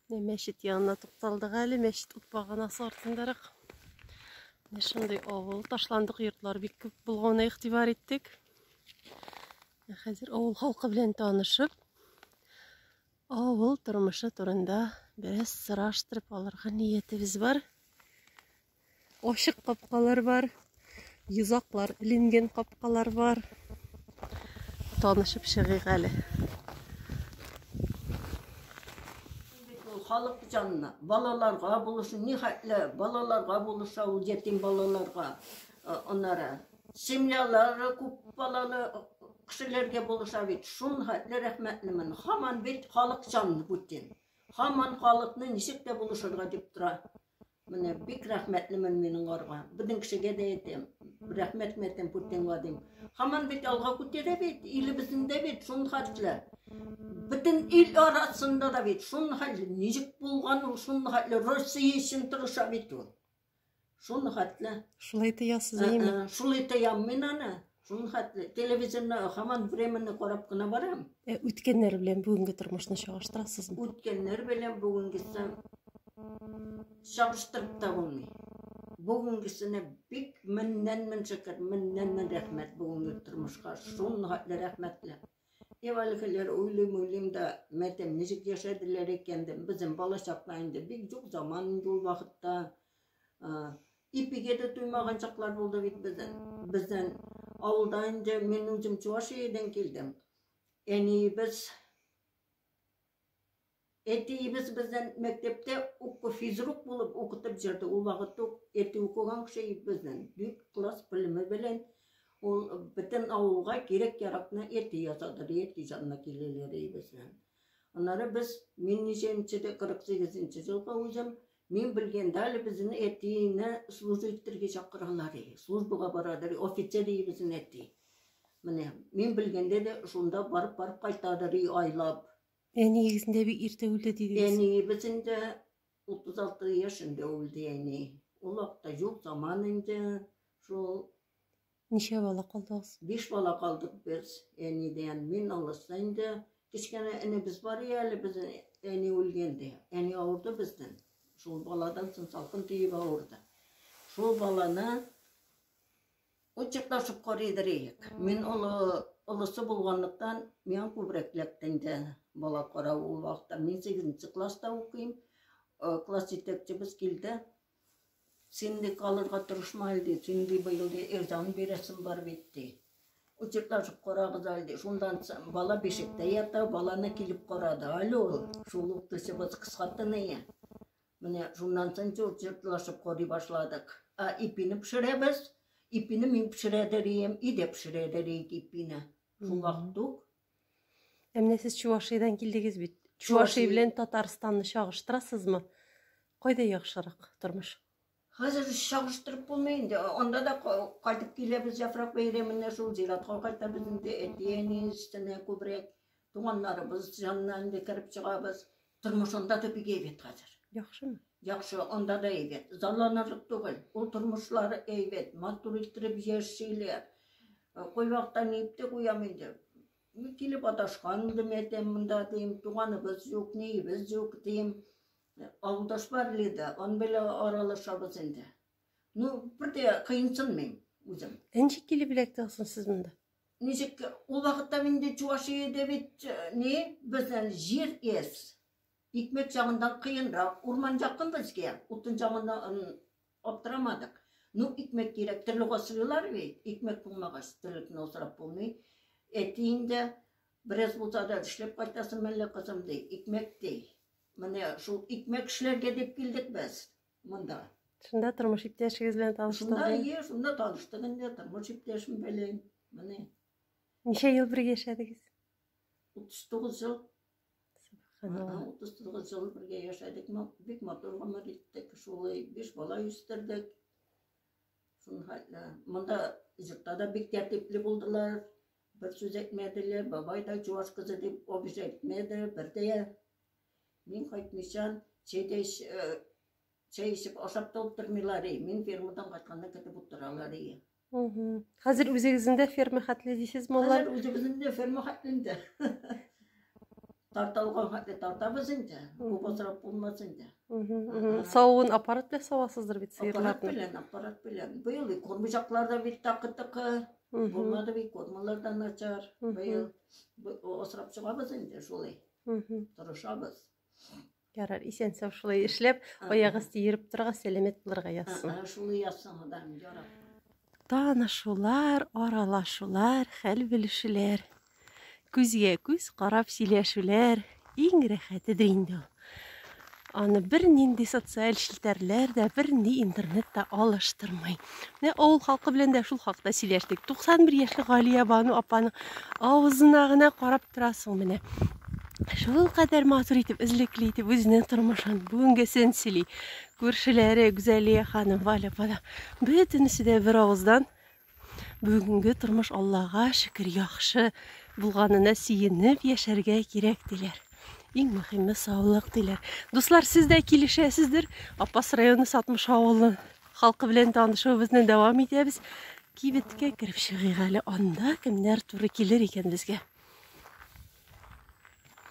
Менә мәчет янына тукталдык әле, мәчет ут баганасы артындарак. Менә шундый авыл, ташландык йортлар бик күп булганы игътибар иттек. Хәзер авыл халкы белән танышып, авыл тормышы турында бераз сораштырып алырга ниятебез бар. Ашык капкалар бар, йозаклар эленген капкалар бар. Танышып чыгыйк әле. Халык җанына, балаларга булысын, ни хәтле балаларга булыса ул ятим балаларга, аннары семьялары күп балалы кешеләргә булыша бит. Шул хәтле рәхмәтлемен. Хаман бит халык җанны бүтән. Хаман халыкны ничек тә булышырга дип тора. Менә бик рәхмәтлемен мин аңарга. Безнең кешегә дә әйтәм. Рәхмәтне әйтәм Путинга дим. Хаман бит алга күтәрә бит, илебезнең дә бит шул хәтле. Бөтен ил арасында да бит шул хәтле. Ничек булган ул шул хәтле? Россия өчен тырыша бит ул. Шул хәтле. Шулай тоясыз, әйеме? Шулай тоям мин аны. Шуның хәтле телевизорны хаман времени карап кына барам. Ә үткәннәр белән бүгенге тормышны чагыштырасызмы? Үткәннәр белән бүгенгесе чагыштырып та булмый. Бүгенгесенә бик меңнән мең шөкер, меңнән мең рәхмәт бүгенге тормышка. Шуның хәтле рәхмәтле. Ев әлгеләр уйлыйм, уйлыйм да, мәтәм ничек яшәделәр икән дим. Безнең бала чакта инде бик юк заман инде ул вакытта. Ипиге дә туймаган чаклар булды бит бездән. Бездән авылда инде мин үзем Чувашиядән килдем. Әниебез Әтиебез бездән мәктәптә уку физрук булып укытып җөрде. Ул вакытта ук әти укыган кеше бездән. Бик класс белеме белән ул бөтен авылга кирәк яракны әти ясады, әти җанына киләләр бездән. Аннары без мин ничәнче дә 48 нче елда үзем Мин белгәндә әле безнең әтине служу иттерге чакыралар и, службага барадыр и, офицер и безнең әти. Менә, мин белгәндә дә шунда барып-барып кайтадыр и, айлап. Әниегез инде бик иртә үлде дидегез. Әниебез инде 36 яшендә үлде әни. Ул вакытта юк заман инде, шул Ничә бала калдыгыз? Биш бала калдык без әнидән. Мин алыста инде кечкенә энебез бар иде әле без әни үлгәндә. Әни авырды бездән. Шул баладан соң салкын тиеп авырды. Шул баланы очыкташып карыйдыр иек. Мин олы олысы булганлыктан миңа күбрәк эләкте инде бала карау ул вакытта. Мин 8 класста укыйм. Э, класс җитәкчебез килде. Син, ди, калырга тырышма әле, ди, син, ди, быел, ди, эрзаны бирәсең бар бит, ди. Учетлашып карагыз әле, ди. Шундан бала бишектә ята, баланы килеп карады әле ул. Шул ук төсебез кыскатыныя. Менә шуннан соң учетлашып карый башладык. А ипине пешерәбез. Ипине мин пешерә дә рейем, и дә пешерә дә рейк ипине. Шул вакыт ук Ә менә сез Чувашиядән килдегез бит. Чувашия белән Татарстанны чагыштырасызмы? Кайда яхшырак тормыш? Хәзер чагыштырып булмый инде. Анда да кайтып киләбез яфрак бәйрәменә шул зиратка кайтабыз инде. Әти-әни өстенә күбрәк туганнарыбыз янына инде кереп чыгабыз. Тормыш анда да бик әйбәт хәзер. Яхшымы? Яхшы, анда да әйбәт. Залланарлык түгел. Ул тормышлары әйбәт, матур иттереп яшиләр. Э, Кайвакта нипте куям инде. Килеп аташкан инде мәтәм монда дим, туганыбыз юк, ниебез юк дим. Э, Авылдаш бар лиде, ан белән аралашабыз инде. Ну, бер дә кыйынсын мин үзем. Ничек килеп эләктегез сез монда? Ничек ул вакытта мин инде Чувашиядә бит э, не безнең җир ес. Икмәк чагындан кыенрак. Урман якын безгә. Утын чагыннан аптырамадык. Ну, икмәк кирәк. Терлек асрыйлар бит. Икмәк булмагач, терлекне асрап булмый. Әти инде бераз булса да эшләп кайтасың мәллә кызым ди. Икмәк ди. Менә шул икмәк эшләргә дип килдек без. Монда. Шунда тормыш иптәшегез белән таныштыгыз? Шунда, ие, шунда таныштык инде, тормыш иптәшем белән. Менә. Ничә ел бергә яшәдегез? 39 ел. Субханалла. 39 ел бергә яшәдек, бик матур гомер иттек, шулай биш бала үстердек. Монда җыртта да бик тәртипле булдылар. Бер сүз әйтмәделәр, бабай да чуваш кызы дип обижать итмәде, бер дә Мин кайтмыйча, чәй дә эч, э, чәй эчеп, ашап та утырмыйлар, и, мин фермадан кайтканны көтеп утыралар, и. Мгм. Хәзер үзегезнең дә ферма хәтле дисез маллар. Хәзер үзебезнең дә ферма хәтле инде. Тарталган хәтле тартабыз инде. Бу бозрак булмас инде. Мгм, мгм. Савуын аппарат белән савасыздыр бит Аппарат сыерларны. белән, аппарат белән. Быел и кормыжаклар да бит такы-тыкы. Мгм, Булмады бит, кормалар да начар. мгм. Быел бу- осрап чыгабыз инде шулай. Торышабыз. Ярар, исән сау шулай эшләп, аяк асты йөреп торырга, сәламәт булырга язсын. Шулай язсын Ходаем, ярар. Танышулар, аралашулар, хәл белешүләр. Күзгә күз карап сөйләшүләр иң рәхәтедер инде ул. Аны бер нинди социаль челтәрләр дә, бер нинди интернет та алыштырмый. Менә авыл халкы белән дә шул хакта сөйләштек. 91 яшьлек Галия Бану апаның авызына гына карап торасың менә. Шул кадәр матур итеп, эзлекле итеп үзенең тормышын, бүгенгесен сөйли. Күршеләре Гүзәлия ханым, Валя апа да бөтенесе дә бер авыздан Бүгенге тормыш Аллага шөкер яхшы булганына сөенеп яшәргә кирәк диләр. Иң мөһиме саулык диләр. Дуслар, сез дә килешәсездер. Апас районы Сатмыш авылы халкы белән танышуыбызны дәвам итәбез. Кибеткә кереп чыгыйк әле. Анда кемнәр туры килер икән безгә?